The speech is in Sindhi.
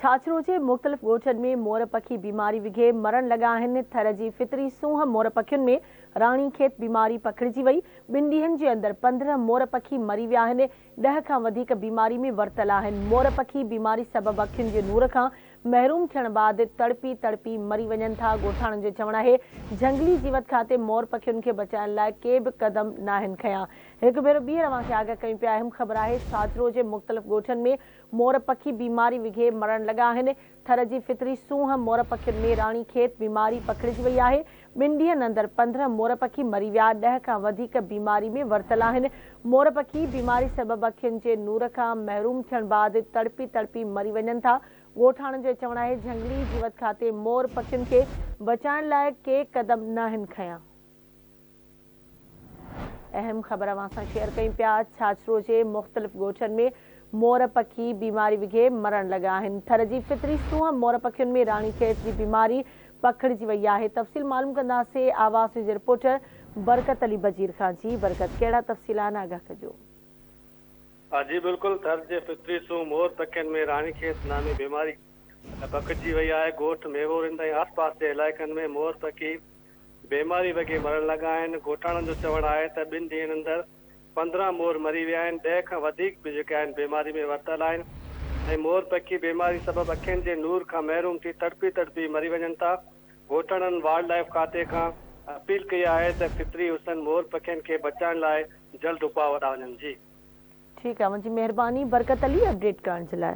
ڇاڇرو جي مختلف ڳوٺن ۾ مور پکي بيماري وگهي مرڻ لڳا آهن، ٿر جي فطري سونهن مور پکين ۾ راڻي کيت بيماري پکڙجي وئي، ٻن ڏينهن جي اندر پندرهن مور پکي مري ويا آهن، ڏهه کان وڌيڪ بيماري ۾ ورتل آهن، مور پکي بيماري سبب اکين جي نور کان محروم ٿيڻ بعد تڙپي تڙپي مري وڃن ٿا، ڳوٺاڻن جو چوڻ آهي جهنگلي جيوت کاتي مور پکين کي بچائڻ لاء ڪي به قدم ناهن کنيا، هڪ ڀيرو ٻيهر اوهان کي آگاهه ڪيون پيا اهم خبر آهي ڇاڇرو جي مختلف ڳوٺن ۾ مور پکي بيماري وگهي مرڻ لڳا آهن. ٿر جي فطري سونهن مور پکين ۾ راڻي کيت بيماري پکڙجي وئي آهي. ٻن ڏينهن اندر پندرهن مور پکي مري ويا، ڏهه کان وڌيڪ بيماري ۾ ورتل آهن. مور پکي بيماري سبب اکين جي نور کان محروم ٿيڻ بعد تڙپي تڙپي مري وڃن ٿا. ڳوٺاڻن جو چوڻ آهي جهنگلي جيوت کاتي مور پکين کي بچائڻ لاء ڪي قدم ناهن کنيا. اهم خبر اوهان سان شيئر ڪيون پيا ڇاڇرو جي مختلف ڳوٺن ۾ مور پکي بيماري وگهي مرڻ لڳا آهن ٿر جي فطري سونهن مور پکين ۾ راڻي کيس جي بيماري پکڙجي وئي آهي تفصيل معلوم ڪنداسي آواز نيوز جي رپورٽر برڪت علي بجير کان جي برڪت ڪهڙا تفصيل آهن آگاهه ڪجو. ها جي بلڪل ٿر جي فطري سونهن مور پکين ۾ راڻي کيس نامي بيماري پکڙجي وئي آهي ڳوٺ ميوورند ۽ آس پاس جي علائقن ۾ مور پکي بيماري وگهي مرڻ لڳا آهن، ڳوٺاڻن جو چوڻ آهي ته ٻن ڏينهن اندر پندرهن مور مري ويا آهن، ڏهه کان وڌيڪ به جيڪي آهن بيماري ۾ ورتل آهن ۽ مور پکي بيماري سبب اکين جي نور کان محروم ٿي تڙپي تڙپي مري وڃن ٿا، ڳوٺاڻن وائلڊ لائيف کاتي کان اپيل ڪئي آهي ته فطري حسن مور پکين کي بچائڻ لاء جلد اپاء وڏا وڃن جي. ٺيڪ آ منھنجي مھرباني برڪت علي اپڊيٽ ڪرڻ جي لاء.